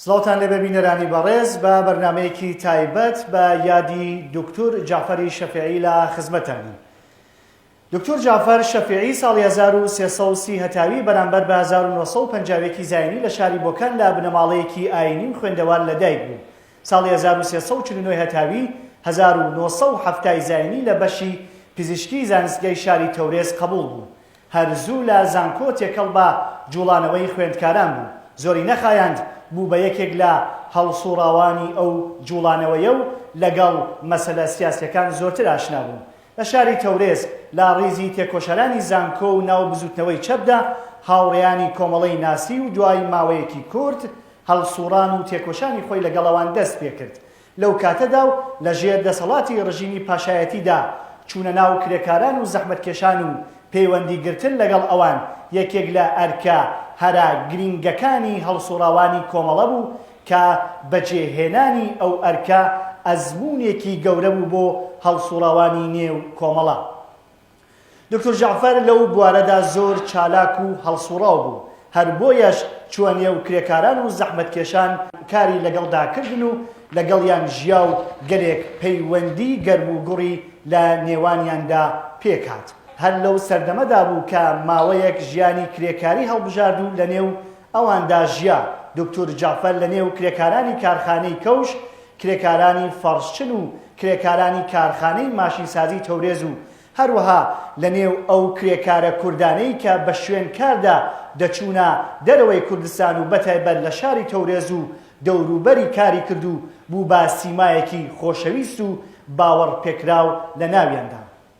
سڵاوتان لێبێ بینەرانی بەڕێز، بە بەرنامەیەکی تایبەت بە یادی دوکتور جەعفەری شەفیعی لە خزمەتتانین. دوکتور جەعفەر شەفیعی ساڵی هەزار و سێ سەد و سی هەتاوی بەرامبەر بە هەزار و نۆ سەد و پەنجا و یەک ی زاینی لە شاری بۆکان لە بنەماڵەیەکی ئایینی و خوێندەوار لەدایک بوو. ساڵی هەزار و سێ سەد و چل و نۆ هەتاوی هەزار و نۆ سەد و حەفتا ی زاینی لە بەشی پزیشکی زانستگەی شاری تەورێز قەبووڵ بوو. هەر زوو لە زانکۆ تێکەڵ بە جووڵانەوەی خوێندکاران بوو، زۆری نەخایاند بوو بە یەکێک لە هەڵسووڕاوانی ئەو جووڵانەوەیە و لەگەڵ مەسەلە سیاسییەکان زۆرتر ئاشنا بوو. لە شاری تەورێز لە ڕیزی تێکۆشەرانی زانکۆ و ناو بزووتنەوەی چەپدا هاوڕێیانی کۆمەڵەی ناسی و دوای ماوەیەکی کورت هەڵسووڕان و تێکۆشانی خۆی لەگەڵ ئەوان دەست پێ کرد. لەو کاتەدا و لە ژێر دەسەڵاتی ڕژیمی پاشایەتیدا، چوونە ناو کرێکاران و زەحمەتکێشان و پەیوەندی گرتن لەگەڵ ئەوان یەکێک لە ئەرکە هەرە گرینگەکانی هەڵسوڕاوانی کۆمەڵە بوو کە بەجێ هێنانی ئەو ئەرکە ئەزموونێکی گەورە بوو بۆ هەڵسوڕاوانی نێو کۆمەڵە. دوکتور جەعفەر لەو بوارەدا زۆر چالاک و هەڵسوڕاو بوو، هەر بۆیەش چووە نێو کرێکاران و زەحمەتکێشان کاری لەگەڵدا کردن و لەگەڵیان ژیا و گەلێک پەیوەندی گەرم و گوڕی لە نێوانیاندا پێک هات. هەر لەو سەردەمەدا بوو کە ماوەیەک ژیانی کرێکاری هەڵبژارد و لەنێو ئەواندا ژیا، دوکتور جەعفەر لەنێو کرێکارانی کارخانەی کەوش کرێکارانی فەڕشچن و کرێکارانی کارخانەی ماشینسازی تەورێز و هەروەها لە نێو ئەو کرێکارە کوردانەی کە بە شوێن کاردا دەچوونە دەرەوەی کوردستان و بەتایبەت لە شاری تەورێز و دەوروبەری کاری کرد و بوو بە سیمایەکی خۆشەویست و باوەڕ پێکراو لە ناویاندا.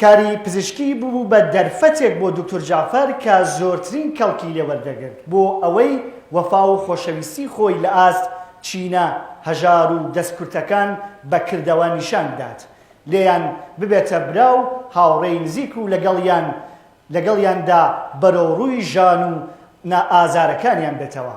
کاری پزیشکی ببوو بە دەرفەتێک بۆ دوکتور جەعفەر کە زۆرترین کەڵکی لێ وەردەگرت بۆ ئەوەی وەفا و خۆشەویستی خۆی لە ئاست چینە هەژار و دەستکورتەکان بە کردەوە نیشان بدات لێیان ببێتە برا و هاوڕێی نزیک و لەگەڵیان لەگەڵیاندا بەرەوڕووی ژان و نا ئازارەکانیان بێتەوە.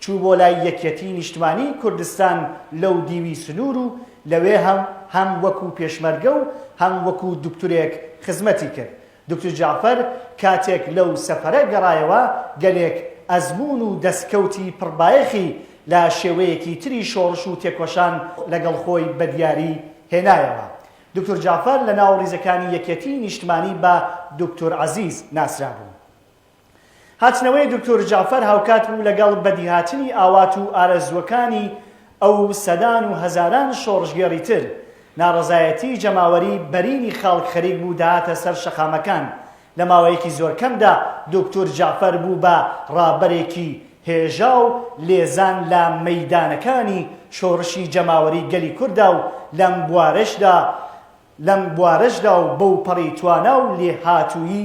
چوو بۆ لای یەکیەتیی نیشتمانیی کوردستان لەو دیوی سنوور و لەوێ هەم هەم وەکوو پێشمەرگە و هەم وەکوو دوکتورێک خزمەتی کرد. دوکتور جەعفەر کاتێک لەو سەفەرە گەڕایەوە، گەلێک ئەزموون و دەسکەوتی پڕ بایەخی لە شێوەیەکی تری شۆڕش و تێکۆشان لەگەڵ خۆی بە دیاری هێنایەوە. دوکتور جەعفەر لە ناو ڕیزەکانی یەکیەتیی نیشتمانی بە دوکتور عەزیز ناسرابوو. هاتنەوەی دوکتور جەعفەر هاوکات بوو لەگەڵ بەدیهاتنی ئاوات و ئارەزووەکانی ئەو و سەدان و هەزاران شۆڕشگێڕی تر، ناڕەزایەتیی جەماوەری بەرینی خەڵک خەریک بوو دەهاتە سەر شەقامەکان، لە ماوەیەکی زۆر کەمدا دوکتور جەعفەر بوو بە ڕابەرێکی هێژا و لێزان لە مەیدانەکانی شۆڕشی جەماوەری گەلی کورددا و لەم بوارەشدا لەم بوارەشدا و بەوپەڕی توانا و لێهاتوویی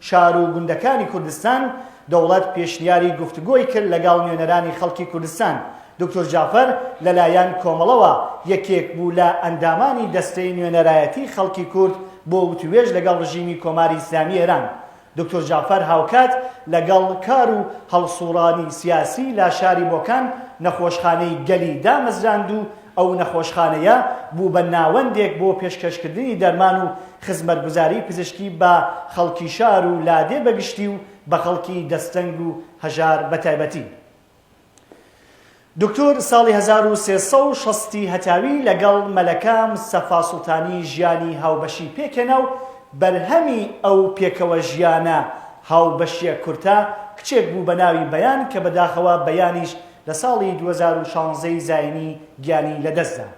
شار و گوندەکانی کوردستان، دەوڵەت پێشنیاری گفتوگۆی کرد لەگەڵ نوێنەرانی خەڵکی کوردستان. دوکتور جەعفەر لە لایەن کۆمەڵەوە یەکێک بوو لە ئەندامانی دەستەی نوێنەرایەتی خەڵکی کورد بۆ وتووێژ لەگەڵ ڕژیمی کۆماری ئیسلامی ئێران. دوکتور جەعفەر هاوکات لەگەڵ کار و هەڵسووڕانی سیاسی لە شاری بۆکان نەخۆشخانەی گەلی دامەزراند و ئەو نەخۆشخانەیە بوو بە ناوەندێک بۆ پێشکەشکردنی دەرمان و خزمەتگوزاری پزیشکی بە خەڵکی شار و لادێ بە گشتی و بە خەڵکی دەستەنگ و هەژار بە تایبەتی. دوکتور ساڵی هەزار و سێ سەد و شەست ی هەتاوی لەگەڵ مەلەکە مستەفا سوڵتانی ژیانی هاوبەشی پێکهێنا و بەرهەمی ئەو پێکەوەژیانە هاوبەشییە کورتە کچێک بوو بە ناوی بەیان کە بەداخەوە بەیانیش لە ساڵی دوو هەزار و شانزە ی زاینی گیانی لەدەستدا.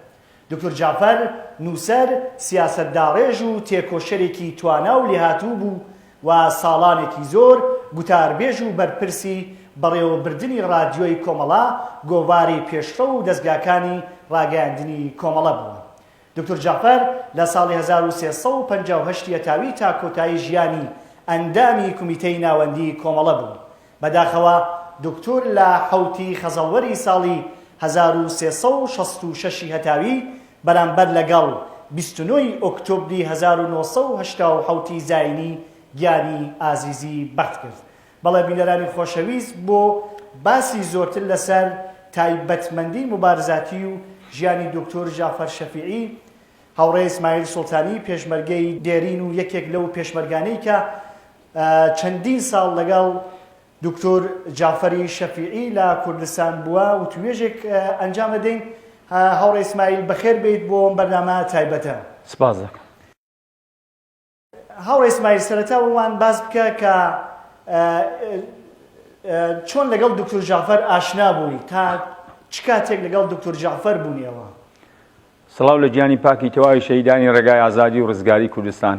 دوکتور جەعفەر، نووسەر، سیاسەتداڕێژ و تێکۆشەرێکی توانا و لێهاتوو بوو و ساڵانێکی زۆر گوتاربێژ و بەرپرسی بەڕێوەبردنی ڕادیۆی کۆمەڵە، گۆڤاری پێشڕەو و دەزگاکانی ڕاگەیاندنی کۆمەڵە بووە. دوکتور جەعفەر لە ساڵی هەزار و سێ سەد و پەنجا و هەشت یەتاوی تا کۆتایی ژیانی ئەندامی کومیتەی ناوەندیی کۆمەڵە بوو. بەداخەوە دوکتور لە حەوتی خەزەڵوەری ساڵی هەزار و سێ سەد و شەست و شەش ی هەتاوی بەرامبەر لەگەڵ بیست و نۆ ی ئۆکتۆبری هەزار و نۆ سەد و هەشتا و حەوت ی زاینی گیانی ئازیزی بەخت کرد. بەڵێ بینەرانی خۆشەویست بۆ باسی زۆرتر لەسەر تایبەتمەندی موبارزاتی و ژیانی دوکتور جەعفەر شەفیعی هاوڕێ ئیسماعیل سوڵتانی پێشمەرگەی دێرین و یەکێک لەو پێشمەرگانەی کە چەندین ساڵ لەگەڵ دوکتور جەعفەری شەفیعی لە کوردستان بووە وتوێژێک ئەنجام ئەدەین هاوڕێ ئیسماعیل بەخێر بێیت بۆ ئەم بەرنامە تایبەتە سپاس دەکەم هاوڕێ ئیسماعیل سەرەتا ومان باس بکە کە چۆن لەگەڵ دکتور جعفەر ئاشنا بووی تا چ کاتێک لەگەڵ دکتور جعفەر بوونیەوە سڵاو لە گیانی پاکی تەواوی شەیدانی ڕێگای ئازادی و ڕزگاری کوردستان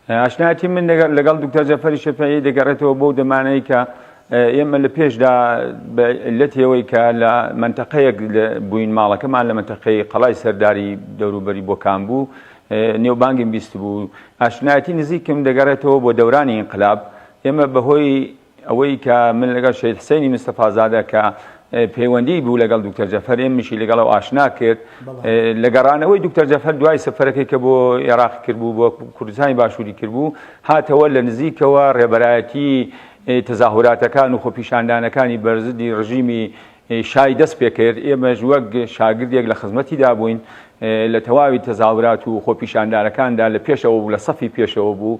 ئاشنایەتی من لەگەڵ دوکتەر جەفەری شەفەیی دەگەڕێتەوە بۆ دەمانەی کە ئێمە لە پێشدا لە تێوەی کە لە منتەقەیەک بووین ماڵەکەمان لە منتەقەی قەڵای سەرداری دەوروبەری بۆکان بوو نێوبانگیم بیست بوو ئاشنایەتی نزیکم دەگەڕێتەوە بۆ دەورانی ئینقلاب ئێمە بەهۆی ئەوەی کە من لەگەڵ شەهید حسەینی مستەفازادە کە پەیوەندی بوو لەگەڵ دکتەر جەفەر ئێمنیشی لەگەڵ ئەو ئاشنا کرد لە گەڕانەوەی دکتەر جەفەر دوای سەفەرەکەی کە بۆ عێراق کردبوو بۆ کوردستانی باشووری کردبوو هاتەوە لە نزیکەوە ڕێبەرایەتی تەزاهوراتەکان و خۆپیشاندانەکانی بەرزدی ڕژیمی شای دەست پێکرد ئێمەش وەک شاگردێک لە خزمەتیدا بووین لە تەواوی تەزاورات و خۆپیشاندانەکاندا لە پێشەوە بوو لە سەفی پێشەوە بوو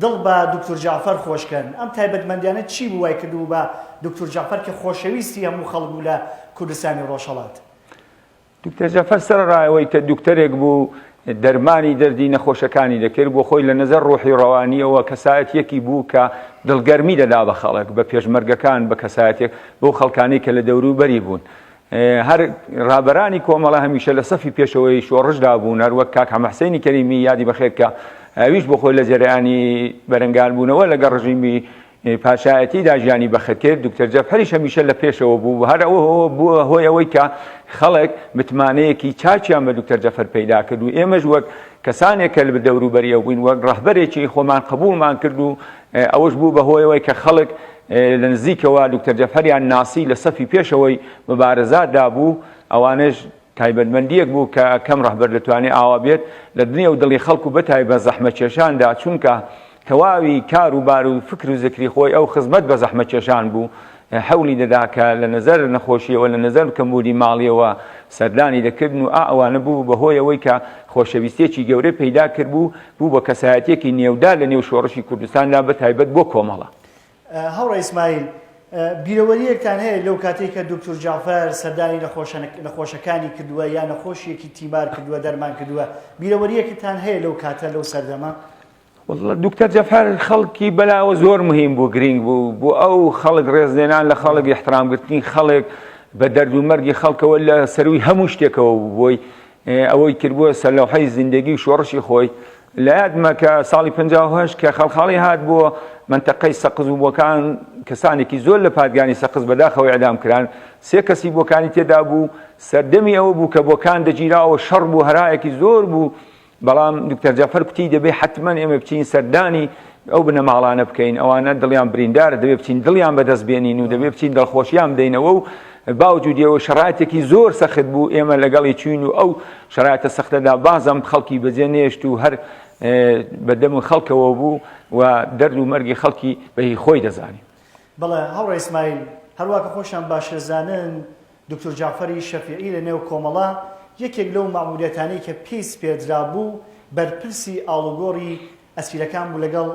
دڵ بە دوکتور جەعفەر خۆش کەن. ئەم تایبەتمەندیانە چی بوو وای کردبوو بە دوکتور جەعفەر کە خۆشەویستی هەموو خەڵک بوو لە کوردستانی ڕۆژهەڵات؟ دوکتور جەعفەر سەرەڕای ئەوەی کە دوکتورێک بوو دەرمانی دەردی نەخۆشەکانی دەکرد، بۆ خۆی لە نەزەر ڕوحی و ڕەوانییەوە کەسایەتییەکی بوو کە دڵگەرمی دەدا بە خەڵک، بە پێشمەرگەکان، بە کەسایەتییەک بەو خەڵکانەی کە لە دەوروبەری بوون. هەر رابەرانی کۆمەڵە هەمیشە لە سەفی پێشەوەی شۆڕشدا بوون، هەر وەک کاک حەمە حسێنی کەریمی یادی بەخێر کە ئەویش بۆ خۆی لە جەرەیانی بەرەنگار بوونەوە لەگەڵ رژیمی پاشایەتیدا ژیانی بەخت کرد، دوکتەر جەفەریش هەمیشە لە پێشەوە بوو و هەر ئەوە بووە هۆی ئەوەی کە خەڵک متمانەیەکی چاکیان بە دوکتەر جەفەر پەیدا کرد و ئێمەش وەک کەسانێک کە لە دەوروبەری ئەو بووین وەک رەهبەرێکی خۆمان قبووڵمان کرد و ئەوەش بوو بە هۆی ئەوەی کە خەڵک لە نزیکەوە دوکتەر جەفەریان ناسی لە سەفی پێشەوەی مبارزات دا بوو، ئەوانەش تایبەتمەندیەک بوو کە کەم ڕەهبەر دەتوانێ ئاوا بێت لە دنێ و دڵی خەڵک و بەتایبەت زەحمەتکێشان دا چونکە تەواوی کار و بار و فکر و زکری خۆی ئەو خزمەت بە زەحمەتکێشان بوو هەوڵی دەدا کە لە نەزەر نەخۆشیەوە لە نەزەر کەمبوونی ماڵیەوە سەردانی دەکردن و ئا ئەوانە بوو بە هۆی ئەوەی کە خۆشەویستیەکی گەورەی پەیدا کردبوو بوو بە کەسایەتیەکی نێودار لە نێو شۆڕشی کوردستاندا بە تایبەت بۆ کۆمەڵە. هاوڕێ ئیسماعیل، بیرەوەریەکتان هەیە لەو کاتەی کە دوکتور جەعفەر سەردانی نەخۆشە نەخۆشەکانی کردووە یا نەخۆشیەکی تیمار کردووە دەرمان کردووە بیرەوەریەکتان هەیە لەو کاتە لەو سەردەمە؟ وەڵڵا دکتەر جەفەر خەڵکی بەلاوە زۆر مهیم بوو گرینگ بوو بۆ ئەو خەڵک ڕێزلێنان لە خەڵک احترامگرتنی خەڵک بە دەرد و مەرگی خەڵکەوە لە سەروی هەموو شتێکەوە بووی ئەوەی کردبووە سەرلەوحەی زیندگی و شۆڕشی خۆی لە یادمە کە ساڵی پهش کە خەڵخاڵی هات بووە منتەقەی سەقز و بۆکان کەسانێکی زۆر لە پادگانی سەقز بەداخەوە ئەدام کران سێ کەسی بۆکانی تێدا بوو سەردەمی ئەوە بوو کە بۆکان دەگیراوە شەڕ بوو هەرایەکی زۆر بوو بەڵام دکتۆر جەعفەر کوتی دەبێ حەتمەن ئێمە بچین سەردانی ئەو بنەماڵانە بکەین ئەوانە دڵیان بریندارە دەبێ بچین دڵیان بەدەست بێنین و دەبێ بچین دڵخۆشیان بدەینەوە و باوجودیەوە شرایتێکی زۆر سەخت بوو ئێمە لەگەڵی چوین و ئەو شرایتە سەختەدا بازم خەڵکی بەجێ نێشت و هەر بەدەم و خەڵکەوە بوو و دەرد و مەرگی خەڵکی بەهی خۆی دەزانی بەڵێ هەڵ ڕێسمایل هەروواکە خۆشیان باشەزانن دوکتور جەعفەری شەفیعی لە نێو کۆمەڵە یەکێک لەو مەئموریەتانەی کە پێی سپێردرابوو بەرپرسی ئاڵوگۆڕی ئەسیرەکان بوو لەگەڵ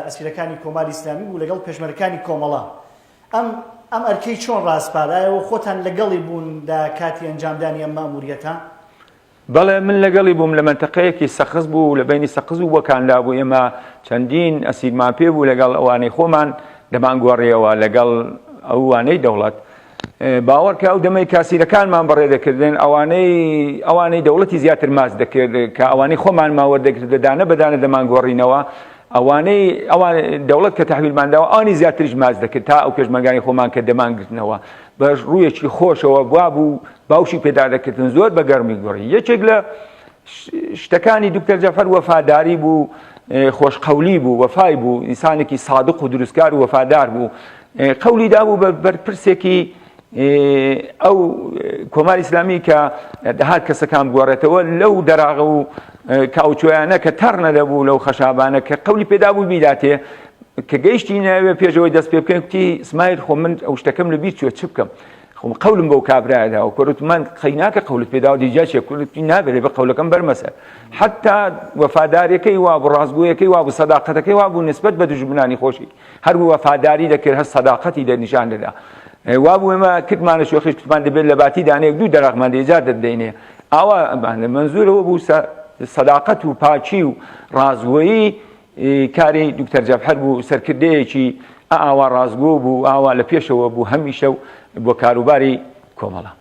ئەسیرەکانی کۆماری ئیسلامی بوو لەگەڵ پێشمەرەکانی کۆمەڵە ئەم ئەم ئەرکەی چۆن ڕاسپارایەوە خۆتان لەگەڵی بوون لە کاتی ئەنجامدانی ئەم مەئموریەتە؟ بەڵێ من لەگەڵی بووم لە مەنتەقەیەکی سەقز بوو لە بەینی سەقز و بۆکان لابوو ئێمە چەندین ئەسیرمان پێ بوو لەگەڵ ئەوانەی خۆمان دەمان گۆڕیەوە لەگەڵ ئەوانەی دەوڵەت باوەڕکە ئەو دەمەی کاسیرەکانمان بەڕێ دەکردن ئەوانەی ئەوانەی دەوڵەتی زیاتر ماس دەکرد کە ئەوانەی خۆمان ماوەردەگرت دەدانە بەدانە دەمان گۆڕینەوە ئەوانەی ئەوان دەوڵەت کە تحویلمانداوە ئەوانی زیاتریش ماس دەکرد تا ئەو پێشمەگانی خۆمان کە دەمانگرتنەوە بە ڕوویەکی خۆشەوە وابوو باوشی پێدادەکردن زۆر بە گەرمی گۆڕی یەکێک لە شتەکانی دکتەر جەفەر وەفاداری بوو خۆشقەولی بوو وەفای بوو ئینسانێکی سادق و دروستکار و وەفادار بوو قولی دابوو بە بەرپرسێکی ئەو کۆماری ئسلامی کە دەهات کەسەکان گۆڕێتەوە لەو دەراغە و کاوچۆیانە کە تەڕنە دەبوو لەو خەشابانە کە قولی پێدا بوو بیداتێ کە گەیشتینە ئەوێ پێش ئەوەی دەست پێ بکەین کوتی سمایل خۆ من ئەو شتەکەم لە بیر چوە چ بکەم خۆم قەولم بەو کابرایە داوە کۆرت من قەیناکە قەولت پێداوە دیجا چێ کوردی نابێت بە قەولەکەم بەرمەسەر حتا وەفادارەکەی وا بۆ ڕاستگویەکەی وا بۆ سەداقەتەکەی وا بوو نسبت بە دژمنانی خۆشی هەر بوو وەفاداری دەکرد هەر سەداقەتی دە نیشان دەدا وا بوو ئێمە کردمانە شوخیش کتمان دەبێت لە باتی دانەیەک دوو دەراغمان دێجار دەدەینێ ئاوا منزورەوە بوو سەداقەت و پاچی و ڕازوەیی کاری دوکتەر جەفهەر بوو سەرکردەیەکی ئا ئاوا ڕاستگۆ بوو و ئاوا لە پێشەوە بوو هەمیشە و بۆ کاروباری کۆمەڵە.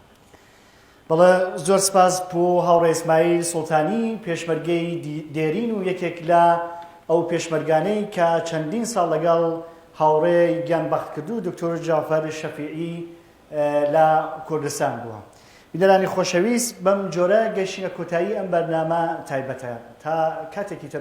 بەڵێ زۆر سپاس بۆ هاوڕێ ئیسماعیل سوڵتانی پێشمەرگەی دێرین و یەکێک لە ئەو پێشمەرگانەی کە چەندین ساڵ لەگەڵ هاوڕێ گیان بەختکردوو دکتۆر جەعفەر شەفیعی لە کوردستان بووە. بینەرانی خۆشەویست بەم جۆرە گەیشتینە کۆتایی ئەم بەرنامە تایبەتە تا کاتێکی تر.